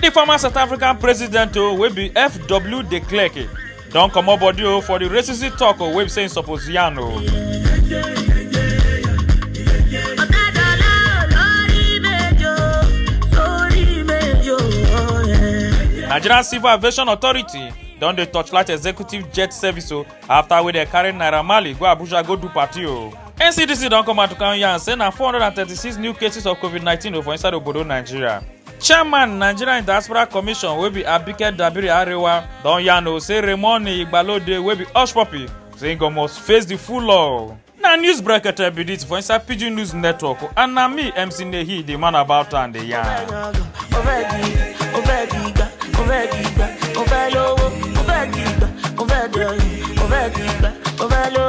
di former south african president o wey be fw de klerk don comot body o for di racism tok o wey be say im suppose yarn o. nigerian civil aviation authority don dey torchlight executive jet service o afta wey dem carry naira marley go abuja go do party o. ncdc don come out to come yarn say na 436 new cases of covid-19 o for inside obodo nigeria. chairman nigerian diaspora commission wey be abike dabiri arewa don yarn o say raymond igbalode wey be hush puppy say he go must face the full law. na news brekete be dis for inside pidgin news network and na me mc nehi dey man about am dey yarn. Overdo,